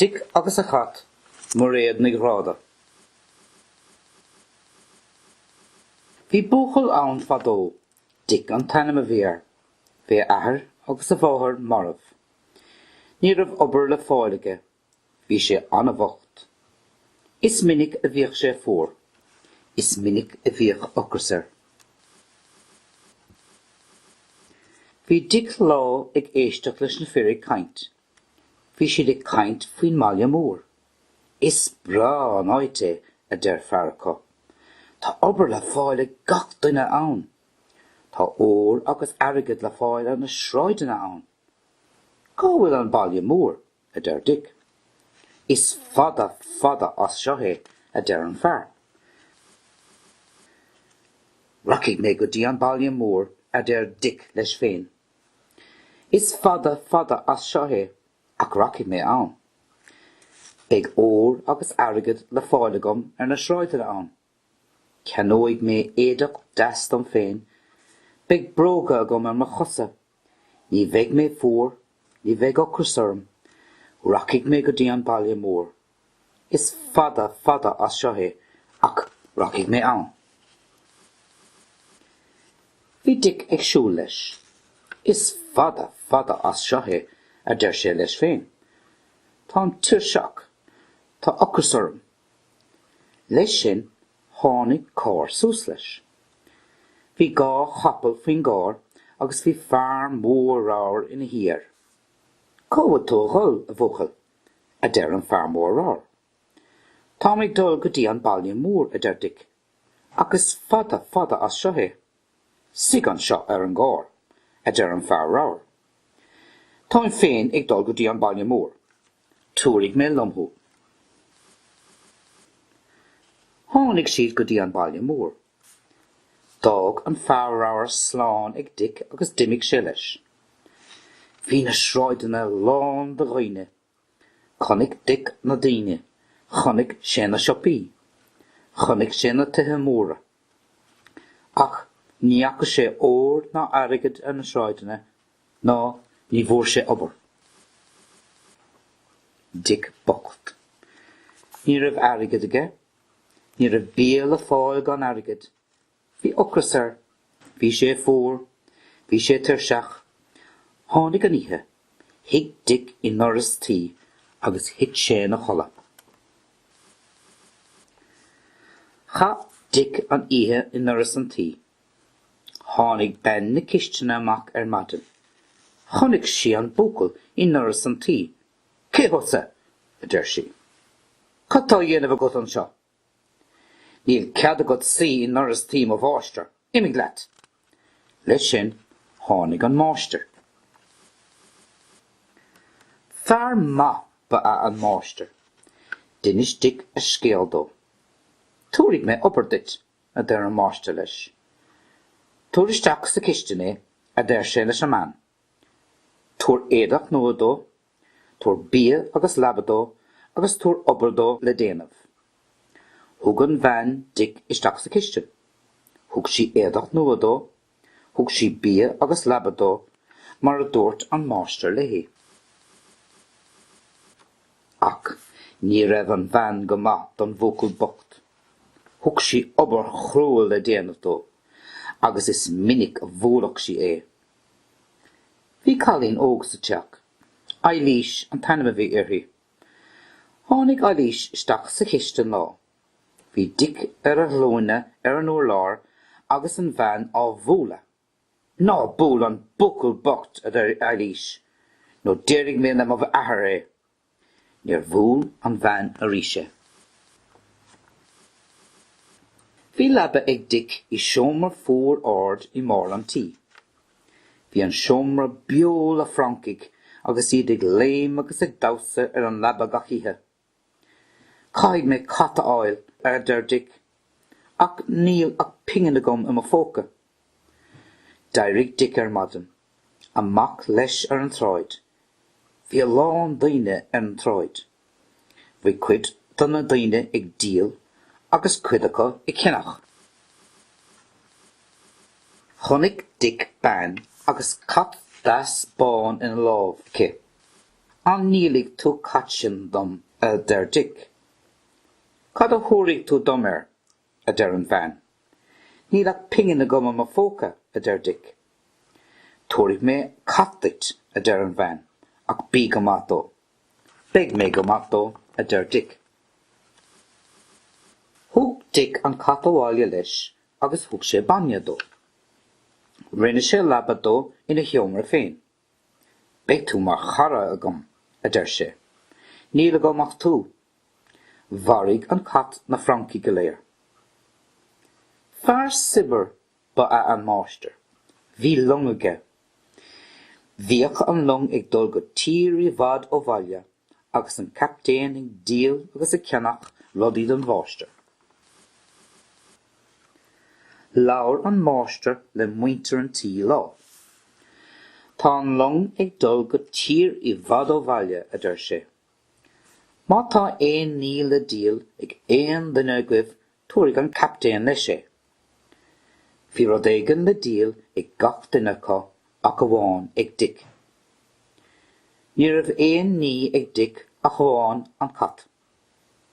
Dick agus a Chat, Mairéad Ní Ghráda. Bhí buachaill ann fadó. Dick an t-ainm a bhí air. Bhí a athair agus a mháthair marbh. Ní raibh obair le fáil aige. Bhí sé an-bhocht. Is minic a bhíodh sé fuar. Is minic a bhíodh ocras air. Bhí Dick lá ag éisteacht leis na fir ag caint. Bhí siad ag caint faoin mbaile mór. Is breá an áit é, a deir fear acu. Tá obair le fáil ag gach duine ann. Tá ór agus airgead le fáil ar na sráideanna ann. Cá bhfuil an baile mór? a deir Dick. Is fada, fada as seo é, a deir an fear. Rachaidh mé go dtí an baile mór, a deir Dick leis féin. Is fada, fada as seo é, ach rachaidh mé ann. Beidh ór agus airgead le fáil agam ar na sráideanna ann. Ceannóidh mé éadach deas dom féin. Beidh bróga agam ar mo chosa. Ní bheidh mé fuar. Ní bheidh ocras orm. Rachaidh mé go dtí an baile mór. Is fada, fada as seo é, ach rachaidh mé ann. Bhí Dick ag siúl leis. Is fada, fada as seo é, a deir sé leis féin. Táim tuirseach. Tá ocras orm. Leis sin, tháinig carr suas leis. Bhí dhá chapall faoin gcarr agus bhí fear mór ramhar ina shuí air. Cá bhfuil tú ag dul, a bhuachaill? a deir an fear mór ramhar. Táim ag dul go dtí an baile mór, a deir Dick, ach is fada fada as seo é. 'Suigh anseo ar an gcarr, a deir an fear ramhar. 'Táim féin ag dul go dtí an baile mór. Tabharfaidh mé liom thú. Tháinig siad go dtí an baile mór. D'fhág an fear ramhar slán ag Dick agus d'imigh sé leis. Bhí na sráideanna lán de dhaoine Chonaic Dick na daoine, chonaic sé na siopaí, chonaic sé na tithe móra. Ach ní fhaca sé ór ná airgead ar na sráideanna ná ní bhfuair sé obair. Dick bocht. Ní raibh airgead aige. Ní raibh bia le fáil gan airgead. Bhí ocras air. Bhí sé fuar. Bhí sé tuirseach. Tháinig an oíche. Shuigh Dic i ndoras tí agus thit sé ina chodladh. Chaith Dic an oíche i ndoras an tí. Tháinig bean na cistine amach ar maidin. Chonaic sí an buachaill i ndoras an tí. Cé thusa? a deir sí. Cad tá á dhéanamh agat anseo? Níl cead agat suí i ndoras tí mo mháistir. Imigh leat! Leis sin, tháinig an máistir. Fear maith ba ea an máistir. D'inis Dic a scéal dó. Tabharfaidh mé obair duit, a deir an máistir leis. Tabhair isteach sa chistin é, a deir sé leis an mbean. Tabhair éadach nua dó Tabhair bia agus leaba dó agus tabhair obair dó le déanamh. Thug an bhean Dic isteach sa chistin. Thug sí éadach nua dó. Thug sí bia agus leaba dó mar a dúirt an máistir léi. Ach ní raibh an bhean go maith don bhuachaill bocht. Thug sí obair chrua le déanamh dó agus is minic a bhuaileadh sí é. Bhí cailín óg sa teach. Eilís an t-ainm a bhí uirthi. Tháinig Eilís isteach sa chistin lá. Bhí Dic ar a ghlúine ar an urlár agus an bhean á bhualadh. Ná buail an buachaill bocht, a deir Eilís, nó déarfaidh mé le mo athair é. Níor bhuail an bhean arís é. Bhí leaba ag Dic i seomra fuar ard i mbarr an tí. Bhí an seomra beo le francaigh agus iad ag léim agus ag damhsa ar an leaba gach oíche. Caithfidh mé cat a fháil, a deir Dic, ach níl ach pingin agam i mo phóca. D'éirigh Dic ar maidin. Amach leis ar an tsráid. Bhí a lán daoine ar an tsráid. Bhí cuid de na daoine ag díol agus cuid acu ag ceannach. Chonaic Dic bean agus cat deas bán ina lámh aici. An ndíolfaidh tú cat sin dom a deir Dic. Cad a thabharfaidh tú dom air? a deir an bhean. Níl ach pingin agam i mo phóca, a deir Dic. Tabharfaidh mé cat duit, a deir an bhean, ach bí go maith dó. Beidh mé go maith dó, a deir Dic. Thug Dic an cat abhaile leis agus thug sé bainne dó. Rinne sé leaba dó ina sheomra féin. Beidh tú mar chara agam, a deir sé. Níl agam ach tú. Mharaigh an cat na francaigh go léir. Fear saibhir ba ea an máistir. Bhí long aige. Bhíodh an long ag dul go tír i bhfad ó bhaile. agus an captaen ag díol agus ag ceannach rudaí don mháistir. Labhair an máistir le muintir an tí lá. Tá an long ag dul go tír i bhfad ó bhaile, a deir sé. Má tá aon ní le díol ag aon duine agaibh Tabharfaidh an captaen leis é. Bhí rud éigin le díol ag gach duine acu ach amháin ag Dick. Ní raibh aon ní ag Dick ach amháin an cat.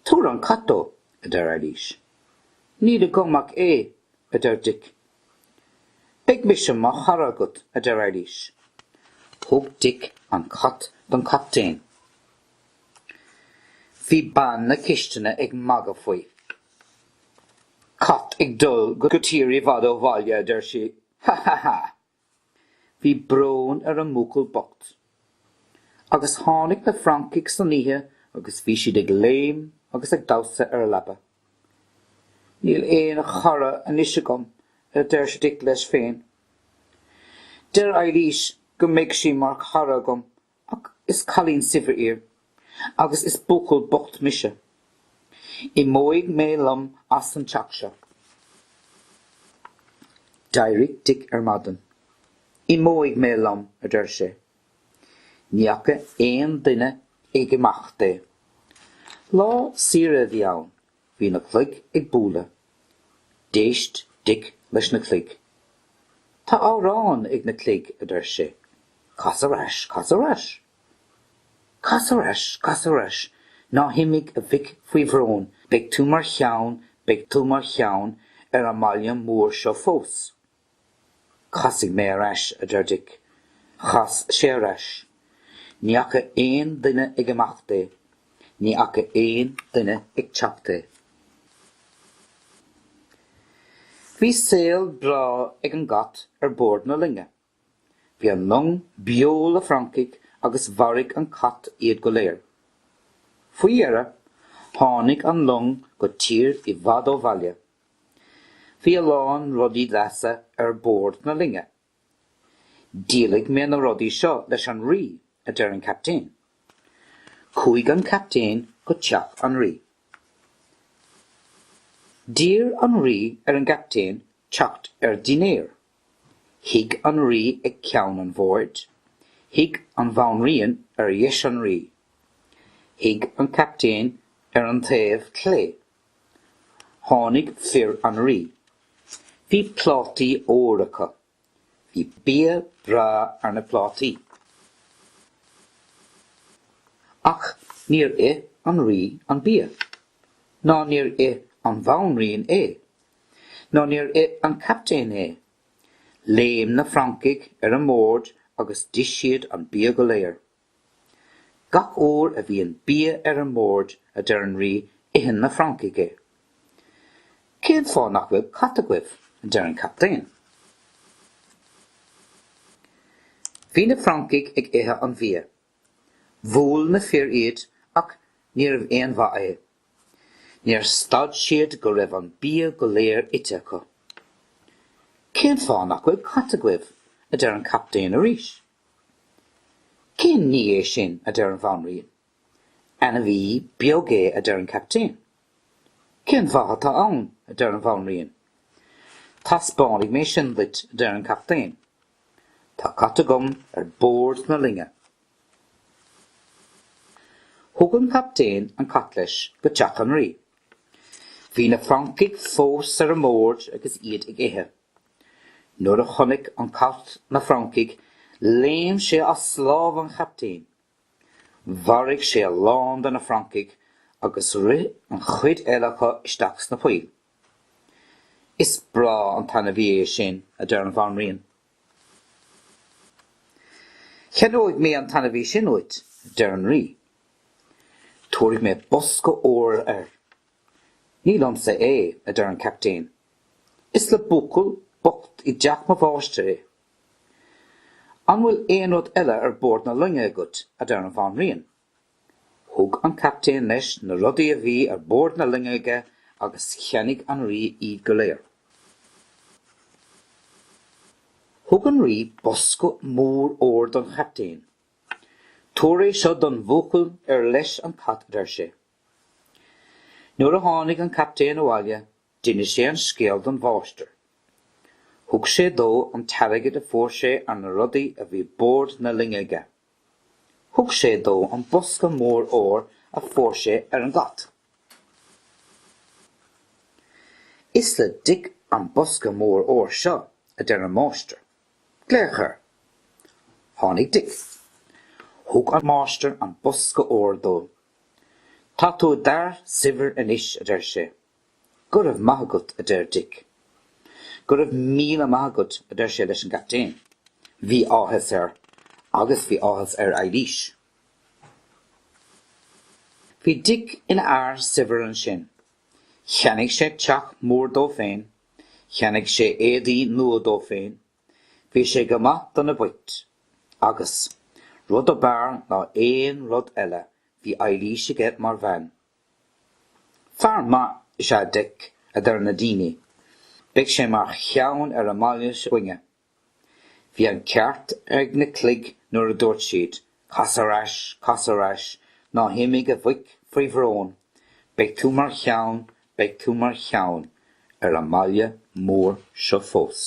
Tabhair an cat dó, a deir Eilís. Níl agam ach é, a deir Dick. Beidh mise mar chara agat, a deir Eilís. Thug Dick an cat don chaptaen. Bhí bean na cistine ag magadh faoi. Cat ag dul go tír i bhfad ó bhaile a deir sí, Ha ha ha! Bhí brón ar an mbuachaill bocht. Agus tháinig na francaigh san oíche agus bhí siad ag léim agus ag damhsa ar a leaba. Níl aon chara anois agam a deir Dick leis féin. Deir Eilís go mbeidh sí mar chara agam Ach is cailín saibhir í agus is buachaill bocht mise. Imeoidh mé liom as an teach seo. D'éirigh Dick ar maidin. Imeoidh mé liom, a deir sé. Ní fhaca aon duine ag imeacht é. Lá saoire a bhí ann Bhí na cloig ag bualadh. D'éist Dick leis na cloig. Tá amhrán ag na cloig, a deir sé. Cas ar ais, cas ar ais. Cas ar ais, cas ar ais, ná himigh a mhic faoi bhrón, beidh tú mar cheann, beidh tú mar cheann ar an mbaile mór seo fós. Casfaidh mé ar ais, a deir Dick. Chas sé ar ais. Ní fhaca aon duine ag imeacht é. Ní fhaca aon duine ag teacht é. Bhí saol breá ag an gcat ar bord na loinge. Bhí an long beo le francaigh agus mharaigh an cat iad go léir. Faoi dheireadh, tháinig an long go tír i bhfad ó bhaile. Bhí a lán rudaí deasa ar bord na loinge. Díolfaidh mé na rudaí seo leis an rí, a deir an captaen. Chuaigh an captaen go teach an rí. D'iarr an rí ar an gcaptaen teacht ar dinnéar. Shuigh an rí ag ceann an bhoird. Shuigh an bhanríon ar dheis an rí. Shuigh an captaen ar an taobh clé Tháinig fir an rí. Bhí plátaí óir acu. Bhí bia breá ar na plátaí. Ach níor ith an rí an bia. Ná níor ith an bhanríon é. Ná níor ith an captaen é. Léim na francaigh ar an mbord agus d'ith siad an bia go léir. Gach uair a bhíonn bia ar an mbord, a deir an rí, itheann na francaigh é. Cén fáth nach bhfuil cat agaibh? a deir an captaen. Bhí na francaigh ag ithe an bhia. Bhuail na fir iad ach níorbh aon mhaith é. Níor stad siad go raibh an bia go léir ite acu. Cén fáth nach bhfuil cat agaibh? a deir an captaen arís. Cén ní é sin? a deir an bhanríon. Ainmhí beag é, a deir an captaen. Cén mhaith atá ann? a deir an bhanríon. Taispeánfaidh mé sin duit, a deir an captaen. Tá cat agam ar bord na loinge. Thug an captaen an cat leis go teach an rí. Bhí na francaigh fós ar an mbord agus iad ag ithe. Nuair a chonaic an cat na francaigh léim sé as lámh an chaptaein. Mharaigh sé a lán de na francaigh agus rith an chuid eile acu isteach sna poill. Is breá an t-ainmhí é sin, a deir an bhanríon. Ceannóidh mé an t-ainmhí sin uait, a deir an rí. Tabharfaidh mé bosca óir air. Ní liomsa é, a deir an captaen. Is le buachaill bocht i dteach mo mháistir é. An bhfuil aon rud eile ar bord na loinge agat? a deir an bhanríon. Thug an captaen leis na rudaí a bhí ar bord na loinge aige agus cheannaigh an rí iad go léir. Thug an rí bosca mór óir don chaptaen. Tabhair é seo don bhuachaill ar leis an cat, a deir sé. Nuair a tháinig an captaen abhaile D'inis sé an scéal don mháistir. Thug sé dó an t-airgead a fuair sé ar na rudaí a bhí bord na loinge aige. Thug sé dó an bosca mór óir a fuair sé ar an gcat. Is le Dic an bosca mór óir seo, a deir an máistir. Glaoigh air. Tháinig Dic. Thug an máistir an bosca óir dó. Tá tú i d'fhear saibhir anois, a deir sé. Go raibh maith agat, a deir Dick. Go raibh míle maith agat, a deir sé leis an gcaptaen. Bhí áthas air agus bhí áthas ar Eilís. Bhí Dick ina fhear saibhir ansin. Cheannaigh sé teach mór dó féin, cheannaigh sé éadaí nua dó féin, bhí sé go maith do na boicht. Agus, rud ab fhearr ná aon rud eile, bhí Eilís aige mar bhean. Fear maith is ea Dick, a deir na daoine. Beidh sé mar cheann ar an mbaile s'againne. Bhí an ceart ag na cloig nuair a dúirt siad, Cas ar ais, cas ar ais, ná himigh a mhic faoi bhrón, beidh tú mar cheann, beidh tú mar cheann ar an mbaile mór seo fós.